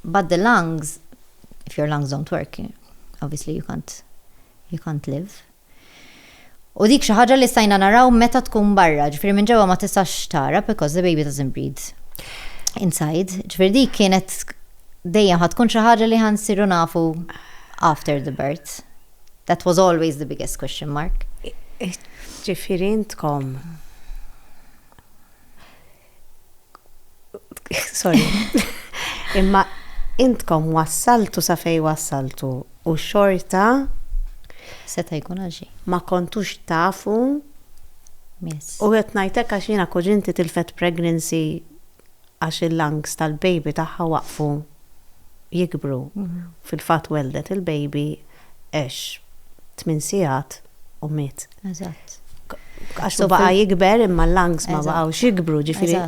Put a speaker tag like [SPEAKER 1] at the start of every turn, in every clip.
[SPEAKER 1] But the lungs, if your lungs don't work, obviously you can't you can't live. U dik xi ħaġa li stajna naraw meta tkun barra, ġifieri minn ġewwa ma tistax tara because the baby doesn't breathe inside. Ġifieri dik kienet dejjem ħad tkun xi ħaġa li ħansiru nafu after the birth. That was always the biggest question mark.
[SPEAKER 2] Ġifieri intkom Sorry. Imma intkom wassaltu sa fej wassaltu u xorta
[SPEAKER 1] seta jkun għalxi. Ma kontux
[SPEAKER 2] tafu
[SPEAKER 1] u għet najtek
[SPEAKER 2] għax jina kuġinti tilfet pregnancy għax il-lungs tal-baby taħħa waqfu jikbru. Mhm. Fil-fat weldet il-baby għex tmien sigħat u miet. Eżatt.
[SPEAKER 1] Għax
[SPEAKER 2] baqa' jikber imma l-lungs ma baqgħux jikbru, ġifieri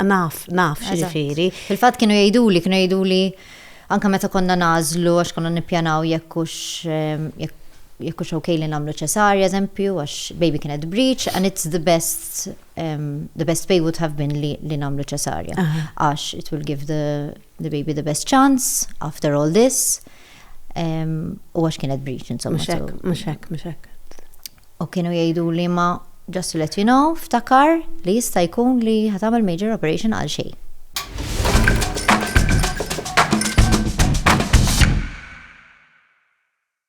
[SPEAKER 2] naf,
[SPEAKER 1] naf
[SPEAKER 2] ġifieri. Fil-fatt kienu jgħiduli,
[SPEAKER 1] kienu jgħiduli anke meta konna nażlu għax konna nippjanaw jekk hux jekk hux ok li nagħmlu ċesarja eżempju għax baby kienet breech and it's the best the best way would have been li nagħmlu ċesarja. Għax it will give the, the baby the best chance after all this. U għax kienet breach, insomma. Mux hekk, mux hekk, mux hekk.
[SPEAKER 2] U kienu
[SPEAKER 1] jgħidu li ma just to let you know, ftakar li jista' jkun li ħatamel major operation għal xej.